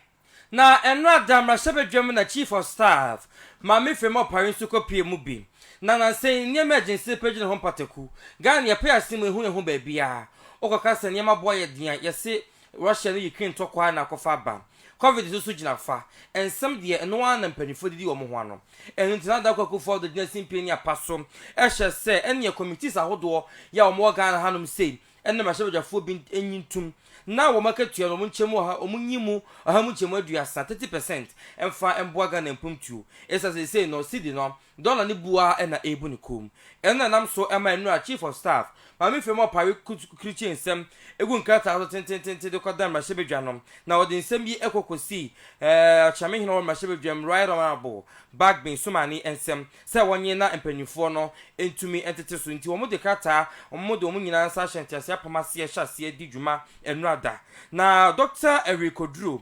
Na ɛno ada mmarahyɛbadwam na Chief of Staff Maame Frema Opare nso kɔ pue mu bi. Na nansa yi nneɛma a ɛgyina sibepɛ gyina hɔ mpataku. Ghana yɛpɛ yɛasene mu ɛhu yɛn ho baabiara. Wokɔka sɛ nneɛma boɔ ayɛ den a, yɛse Russia ne Ukraine ntɔkwaɛ na akɔfa aba. Covid no so gyina fa nsɛm deɛ ɛno ara na mpaninfoɔ didi wɔn ho ano. Ɛno nti na Adako Akuffo Addo gyina simpie ne apa so hyɛ sɛ ɛneɛ committees ahodoɔ yi a wɔn wɔ Ghana hanom sei ne mmarahyɛbadwafoɔ bi nyi ntom na wɔn akatua no wɔn nkyɛmu ɔha wɔn nyi mu ɔha mu nkyɛmu aduasa, thirty percent, mfa mboa Ghana mpuntuo. Ɛfisɛ seesei no cedi no Dɔla no bu ara na ɛrebu ne kɔn mu. Ɛno na ɛnam so ma nnora Chief of Staff, Maame Femi Opare krukyee nsɛm gu nkrataa so tenteententen de kɔdaa mmarahyɛbadwa no, na ɔde nsɛm yi kɔ kɔsii Ɔkyerɛme Hene wɔ mmarahyɛbadwam, Right Honourable Bagbin Sumani nsam sɛ wɔnye na mpanimfoɔ no ntumi ntete so nti wɔde krataa a wɔde wɔn nyinaa nsa ahyɛ nteaseɛ apam aseɛ hyɛ aseɛ di dwuma nnora da na Dɔkta Awi Koduro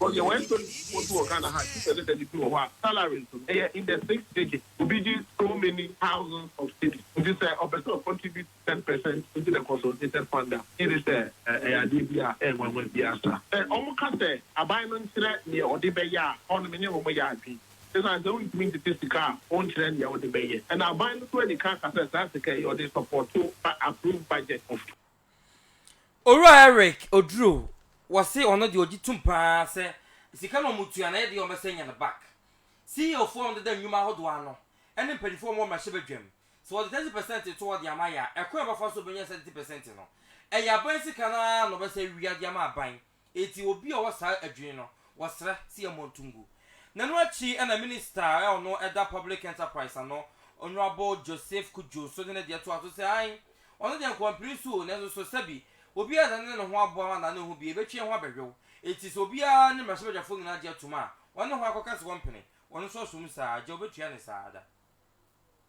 Ɔ deɛ w'ɛntɔ ne nsuo nso wɔ Ghana ha gye sɛ ne daddy bi wɔ hɔ a salary nso no ɛyɛ in the six digits obi gye so many thousands of cedis nti sɛ ɔpɛ sɛ ɔ contribute ten percent into the consolidated fund a gye ne sɛ ɛyɛ adeɛ bi a ɛnwanwa biara sa. Sɛ wɔn ka sɛ aban no nkyerɛ neɛ ɔde bɛyɛ a hɔ no me ne wɔn yɛ adwene ɛsiane sɛ wontumi ntete sika a wɔnkyerɛ neɛ ɔde bɛyɛ ɛna aban no nso anika aka sɛ saa sika yi ɔde support ba approved budget of Owura Eric Oduro, wɔse ɔno deɛ ɔgye tom paa sɛ sika no a wɔtua no ɛyɛ deɛ a wɔbɛsan anya no back. CEO foɔ a wɔdeda nnwuma ahodoɔ ano ne mpaninfoɔ a wɔwɔ mmarahyɛbadwam, sɛ wɔde thirty percent to hɔ de ama yɛ a, ɛkwan a wɔbɛfa so bɛnya saa thirty percent no, ɛyɛ aban sika no ara na wɔbɛsan awia de ama aban. Enti obi a ɔwɔ saa adwene no, wɔsrɛ sɛ yɛmmɔ nto ngu. Na ɛno akyi na Minista a ɔno da Public Enterprise ano, Honourable Joseph Kudjo nso de ne deɛ toaa so sɛ, Ae, ɔno deɛ nkwampire so o, nanso so sɛbi, obiara a ɔne ne ho abɔ anaa ne ho bi, ɛbɛtwi yɛn ho abɛhwew. Enti sɛ obiara ne mmarahyɛbadwafoɔ nyinaa gye atom a, wɔne ho akɔka sɛ wɔmpene, ɔno nso ɔsom saa, agya ɔbɛtua ne saa da.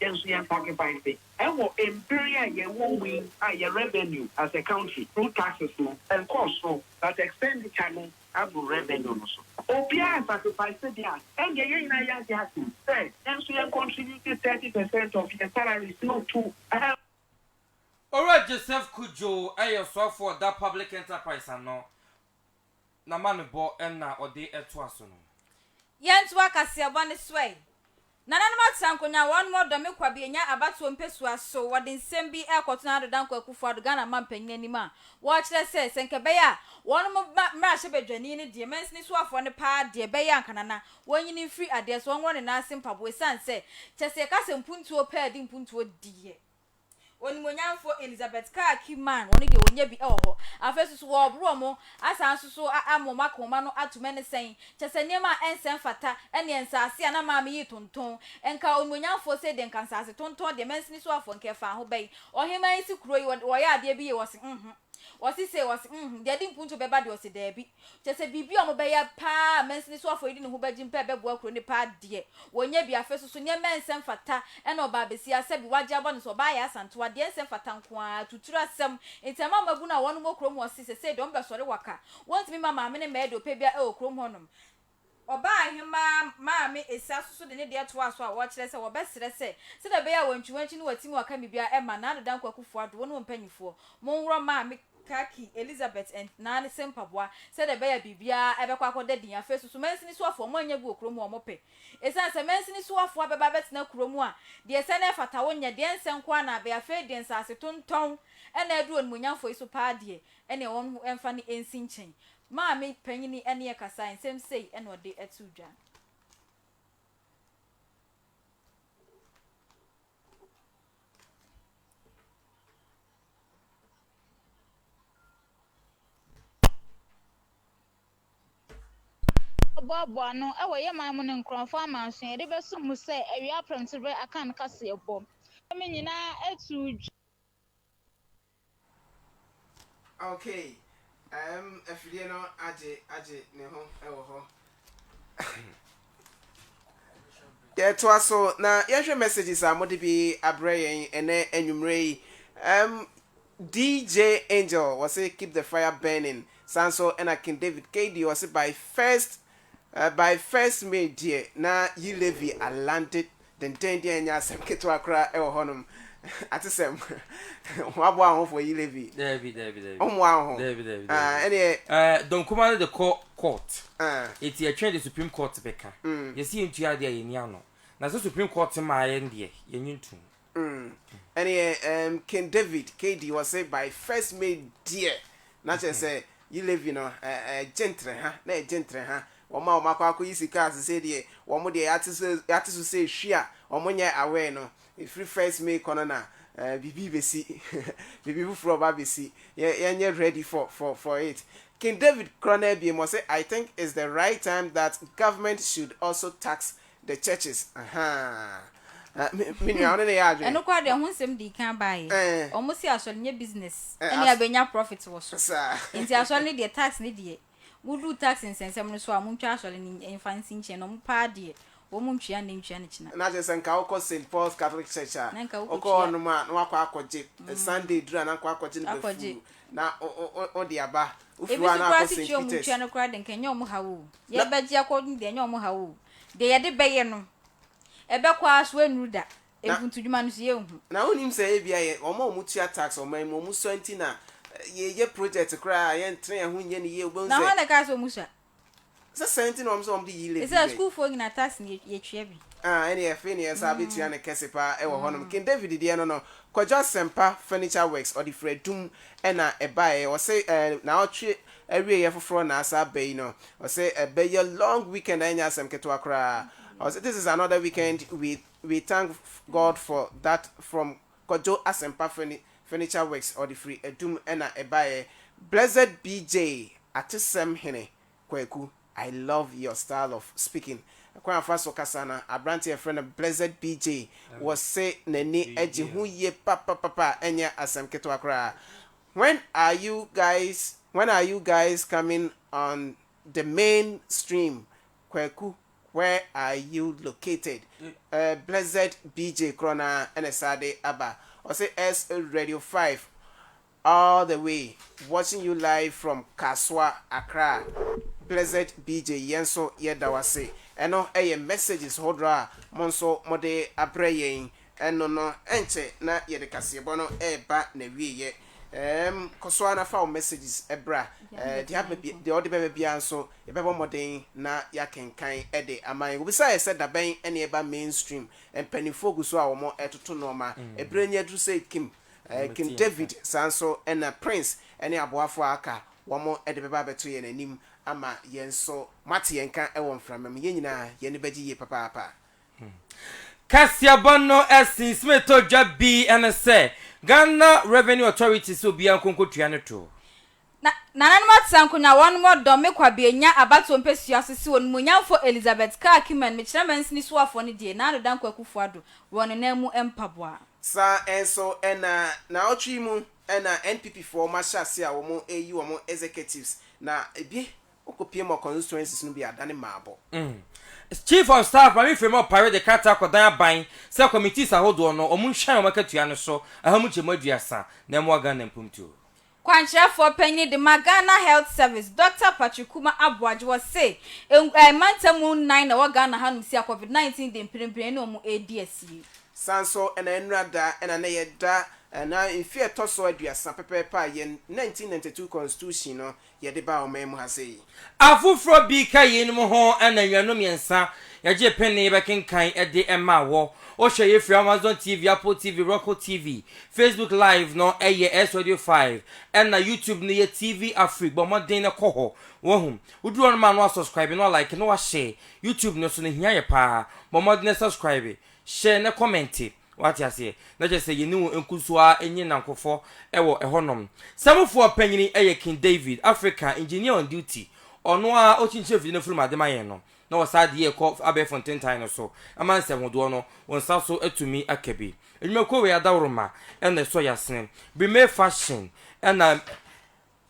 Yɛn nso yɛn sacrifice wɔ mber yi a yɛwɔ mu yi a yɛn revenue as a country through taxes no nkɔɔ sor but expenditure no abor revenue no so. Obiara sacrifice de a, ɛnde yɛn nyinaa yɛagye atom sɛ yɛn nso yɛn contribute thirty percent of yɛn salaries no to ɛhɛn. Owura Joseph Cudjoe yɛ Ɔsoafo wɔ Da Public Enterprise ano. Na ma no bɔ na ɔde toa so no. Yɛntoa kaseɛbɔ no so ɛ. Nananom atra nkonwa wɔn wɔ Dɔme Kwabianya abatoɔ mpɛsua so wɔde nsɛm bi rekɔto Nana Addo Dankwa Akufo Addo Ghana man panyin anim a wɔrekyerɛ sɛ sɛ nka ɛbɛyɛ a wɔn mo ba mmarahyɛ badwani no deɛ mansini soafoɔ no paa deɛ ɛbɛyɛ anka Nana wɔnyini mfiri adeɛ so wɔnworɔ ne nan ase mpaboa ɛsiane sɛ kyɛsɛ yɛka sɛ mpuntuo paa di mpuntuo deɛ Onimuonyamfo Elizabeth Carr Kiman, wɔn deɛ wɔnnya bi wɔ hɔ. Afei nso so wɔreboro wɔn, asan nso so ama wɔn akoma no atom ne sɛn, kyerɛ sɛ nneɛma a ɛnsɛ mfata ɛneɛ nsaase a na maame yi tontɔn, nka Onimuonyamfoɔ sei deɛ nka nsaase tontɔn deɛ mansini so afoɔ nka ɛfa ho bɛn, ɔheman yi si kuro yi wɔyɛ adeɛ bi yie, wɔse, Mhmm, wɔse sei, wɔse, Mhmm, deɛ ɛde mpuntuo bɛba deɛ wɔse, Daabi. Kyerɛ sɛ biribi a wɔbɛyɛ paa a mansini so afɔdi no ho bɛgye mpo a ɛbɛboa kuro no paa deɛ, wɔnyɛ bi. Afei nso so, nneɛma a ɛnsɛ mfata na ɔbaa bɛsi ara, sɛbi wɔagye abɔ no sɛ ɔbaa yɛ Asantewa, deɛ ɛnsɛ mfata nko ara, atuturu asɛm. Nti ɛma mmabunu a wɔnom wɔ kurom hɔ se, sesei deɛ wɔbɛsɔre waka, wɔntumi mma maame ne mmaa deɛ ɔpɛ biara wɔ kurom hɔnom. Ɔbaahemaa maame Esia nso so de ne deɛ toaa so a ɔrekyerɛ sɛ wɔbɛsrɛ sɛ, sɛdeɛ ɛbɛyɛ a Wankyiwankyi ne Watimi ɔka me biara ɛmma Nado Dankwa Akuffo Addo wo ne wo mpanimfoɔ mo nworɔ maame Kaki Elizabeth and Naa ne se mpaboa sɛdeɛ ɛbɛyɛ a biribiara ɛbɛkɔ akɔda din. Afei nso so mansini soafoɔ mo annya agu wɔ kuro mu a wɔpɛ esiane sɛ mansini soafoɔ abɛba abɛtena kuro mu a deɛ ɛsɛ na ɛfata wo nyɛ deɛ nsɛ nko ara na abɛyɛ afei deɛ nsase tontɔn na aduru onimuonyamfoɔ yi so paa deɛ ɛneɛ wɔn mfa no nsi nkyɛn Maame panyini ɛneɛ kasae nsɛm sei ɛna ɔde ɛtoo dwa. Wɔboaboa ano wɔ yɛ man mu ne nkorɔmfoɔ amanso yɛde bɛsom mu sɛ awia prɛmtoberɛ Akan kaseɛbɔ. Ɛme nyinaa ɛtoo dwa. Okay ɛɛm afidie no agye agye ne ho wɔ hɔ. Yɛtoa so na yɛnhwɛ messages a mode bi abrɛ yɛn ɛnɛ anwummerɛ yi. Ɛɛm DJ Angel wɔse keep the fire burning. Saa nso ɛna King David KD ɔse by first By first May deɛ na Yi Levy alande dendenden a ɛnyɛ asɛm ketewa koraa wɔ hɔnom. Atesɛm. Wɔaboa wo ho for Yi Levy? Daabi, daabi, daabi. Wommoaa wo ho? Daabi, daabi, daabi. Ah, ɛneɛ. Eh, Don Kumah no de kɔ court. Ah. Enti yɛtwɛn deɛ Supreme Court bɛka. Yɛse yɛntua adeɛ a yɛnni ano. Na sɛ Supreme Court maa yɛn deɛ, yɛnnye ntom. Mm ɛneɛ ɛɛm King David KD ɔse by first May deɛ na kyerɛ sɛ yi levy no ɛɛ ɛgye ntere ha na ɛgye ntere ha wɔn a wɔn akɔ akɔ yi sika sesei deɛ wɔn deɛ yɛate so yɛate so sɛ ehwi a wɔn nyɛ aware no efiri first May kɔ no na ɛɛ biribi besi biribi foforɔ ba besi yɛ yɛnyɛ ready for for for it King David korɔ no abiem ɔse I think it's the right time that government should also tax The churches ahaa me me nua ɔne ne yɛ adwene. Ɛno koraa deɛ ho nsɛm dii kan baeɛ. Ɛɛ. Wɔse asɔre nyɛ business Ɛ ɛne as yɛbɛnya profit wɔ so. saa. Enti asɔre no deɛ tax no deɛ moduru tax nsɛnsɛm no so a montwa asɔre no ny mfa nsi nkyɛn na wɔn paa deɛ wɔn ntua nnɛ ntua no kyena. Na kyerɛ sɛ nka wokɔ Saint Paul's Catholic Church a, Na nka wo wokɔ kɔtua. hɔnom a na woakɔ akɔgye Ɛ Sunday duru a na nkɔ akɔgye no Akɔgye. bɛfuu na wo wo wo wode aba. Wofiri Ebi hɔ a so na koraa wakɔ se Saint tua wɔn ntua Peter's. no koraa deɛ nka ɛnyɛ wɔn haw o. Yɛbɛgye akɔ no deɛ, ɛnyɛ wɔn haw o. Deɛ yɛde bɛyɛ no, ɛbɛkɔ ara so, ɛrennuru da. Mfuntudwuma no nso, yɛrenhu. Na wonnim sɛ ebia yɛn, wɔn a wɔtua tax ɔman mu, wɔsua nti na yɛyɛ project koraa a, yɛntene yɛn ho nyɛ no yie. Wobɛhu sɛ. Na hwan na ɛkaa sɛ wɔsua? Sɛ saa nti na wɔn sɛ wɔde yi levy bɛn. Sɛ sukuufoɔ nyinaa tax na yɛtua bi. Ah, ɛnneɛ afei na yɛn nsa abɛtua no kɛse pa ara wɔ hɔnom. King David deɛ no no, Kwadwo Asɛmpa Furniture Works, ɔde firi adum na ɛbaeɛ. Wɔse, eh, naawɔtwe Awieɛ foforɔ na asa aba yi no. Ɔse ɛbɛyɛ long weekend a ɛnyɛ asɛm ketewa koraa. Ɔse this is another weekend we we thank God for that from Kwadwo Asempa furni furniture works ɔde firi Adum na ɛbaeɛ Blessed BJ atesɛm hene Kwaku I love your style of speaking kwan a ɔfa so kasa no abranteɛ a yɛfrɛ no Blessed BJ wɔse n'ani gye ho yie papapapa ɛnyɛ asɛm ketewa koraa When are you guys when are you guys coming on the main stream Kwaku where are you located eh blessed BJ korɔ no ara na ɛsan de aba ɔse S radio five all the way watching you live from Kasoa Accra blessed BJ yɛn nso yɛda wo ase ɛno yɛ messages hodoɔ a mo nso mode abrɛ yɛn Ɛno no, ɛnkyɛ na yɛde kaseɛbɔ no reba n'awieɛ. Ɛɛm, kɔ so ara na fa wo messages bra. Ɛɛ, deɛ aba bi, deɛ ɔde bɛba biara nso, yɛbɛbɔ mmɔden na yɛakenkan de ama yɛn. Wɔbisaa yɛn sɛ, da bɛn na yɛba mainstream? Mpanimfoɔ gu so a wɔretoto nnoɔma. Ɛberɛ no aduru sɛ Kim, ɛɛ, King David, saa nso na Prince ne aboafoɔ a aka, wɔde bɛba abɛto yɛn anim ama yɛn nso. Moate yɛn nka wɔ mframa mu. Yɛn nyinaa, yɛn ani bɛgye yie papaapa. Kaseɛbɔ no ɛsen Smith todwa bi ɛne sɛ Ghana Revenue Authority sɛ obiara nko nkotua ne toɔ. Na nananom atena nkonwa wɔnom ɔdɔ me kwabea nya abatoɔ mpɛsua so se onimuonyamfoɔ Elizabeth Carr Kiman mekyerɛ mansini soafoɔ no die Nado Dankwa Akufo Addo wɔ ne nan mu mpaboa. Saa nso na naawɔtwe yi mu na NPP foɔ wɔahyɛ aseɛ a wɔreyi wɔn executives na ebi Ɔkɔ pm wɔ constituencies no bi a adane mmaabɔ. Chief of Staff Maame Frema Opare de krataa kɔdan aban sɛ committees ahodoɔ no wɔn nhwɛn wɔn akatua no so ɛha mu gyɛmu aduasa na ɛmoa Ghana mpomtuo. Kwankyerɛfoɔ panyin de ma Ghana Health Service, Dɔkta Patrick Kuma Aboagye wɔ se eh mantamu nnan na ɛwɔ Ghana ha nom si a Covid 19 de mprempren ɛne wɔn ɛredi asie. Saa nso na ɛnnora da ɛna na yɛda ɛna mfie a ɛtɔ so aduasa pɛpɛɛpɛ a yɛn 1992 Constitution no yɛde baa ɔman mu ha sei. Afoforɔ bi ka yeinom ho ananwiano mmiɛnsa, yɛgye pene bɛkenkan de ma wɔ. Wohwɛ yei firi Amazon TV, Apple TV, Roku TV. Facebook Live no yɛ S-Radio 5, ɛna YouTube no yɛ TV Afrique. Bɔ mmɔden na kɔ hɔ. Wahu? Woduru hɔ no ma no asɔskraibe na walike na wahyɛɛ. YouTube no nso no hia yɛ paa. Bɔ mmɔden na subscribe, hyɛɛ na kɔmɛnte. Wate aseɛ? Na kyerɛ sɛ yɛne wɔn nko nso ara nye nnankofoɔ wɔ ɛhɔnom. Samufoɔ panyini yɛ King David, African Engineer on Duty, ɔno ara ɔkyinkyirɛ mfidie no afurum ade ma yɛn no, na ɔsaa de yɛn kɔ abɛɛfo ntentan no so, ɛma nsɛmhodoɔ no wo nsa so atumi aka bi. Nnwumakuo wei adaworoma na ɛsɔ yɛn asene. Brimay Fashion na.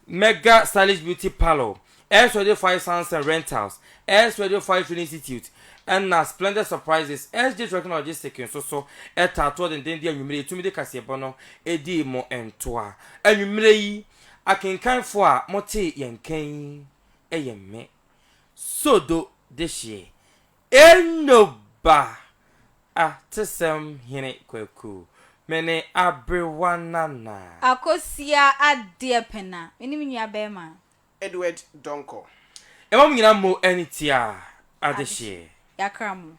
Mega Stylish Beauty Parlour, Earth Radio 5 Sounds and Rentals, Earth Radio 5 Training Institute, ɛnna Splendid Surprises, SJ Trucking and Logistics nso so taa toɔ denden de anwummere yi Tumide Kaseɛbɔ no di mo ntoa. Anwummere yi, akenkanfoɔ a motee yɛn nka yi yɛ me, Sodo Deshie. Enoba, Atesɛm hene Kwaku, me ne aberewa Nana. Akosia Adeɛpɛna, me ne me nua bɛɛma. Edward Donkor. Ɛma mo nyinaa mo ani tia adehyeɛ. Yɛakra mo.